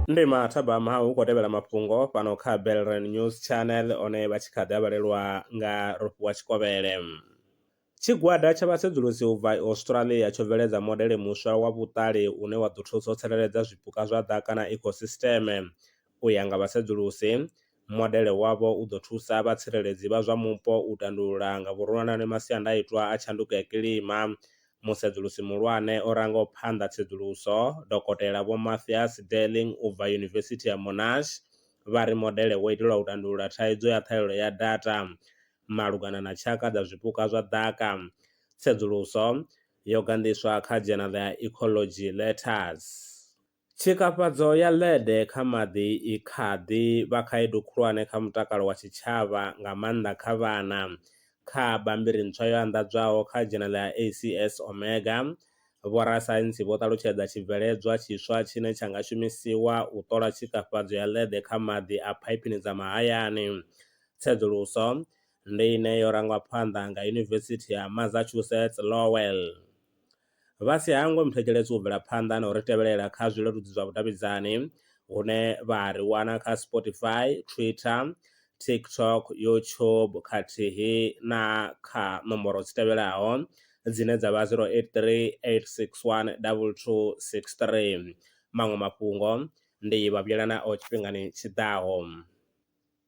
ndi mathabama ha u khou tevhela mafhungo fhano kha belren news channel one vha tshi kha ḓi avhalelwa nga rofhiwa tshikovhele tshigwada tsha vhasedzulusi u bva australia tsho bveledza modele muswa wa vhuṱali une wa ḓo thusa u tsireledza zwipuka zwa ḓaka na ecosystem u ya nga vhasedzulusi Modele wavho u ḓo thusa vhatsireledzi vha zwa mupo u tandulula nga vhuronwane masiandaitwa a tshanduko ya kilima. Musedzulusi muhulwane o rangaho phanḓa tsedzuluso, Dokotela Vho Mathias Derling u bva Yunivesithi ya Monash, vha ri modele wo itelwa u tandulula thaidzo ya ṱhahelelo ya data malugana na tshaka dza zwipuka zwa ḓaka. Tsedzuluso yo ganḓiswa kha dzhenala ya Ecology Letters. Tshikafhadzo ya lead kha maḓi i kha ḓi vha khaedu khulwane kha mutakalo wa tshitshavha, nga maanḓa kha vhana. Kha bammbiri ntswa yo anḓadzwaho kha dzhenele ya ACS Omega, vhorasaintsi vho ṱalutshedza tshibveledzwa tshiswa tshine tsha nga shumisiwa u ṱola tshikafhadzo ya lead kha maḓi a phaipini dza mahayani. Tsedzuluso ndi ine yo rangwa phanḓa nga Yunivesithi ya Massachusetts Lowell vha si hangwe muthetshelesi u bvela phanḓa na u ri tevhelela kha zwileludzi zwa vhudavhidzani hune vha ri wana kha Spotify, Twitter, TikTok, YouTube khathihi na kha nomboro dzi tevhelaho dzine dza vha 0838612263. Maṅwe mafhungo ndi vha vhuyelanaho tshifhingani tshi ḓaho.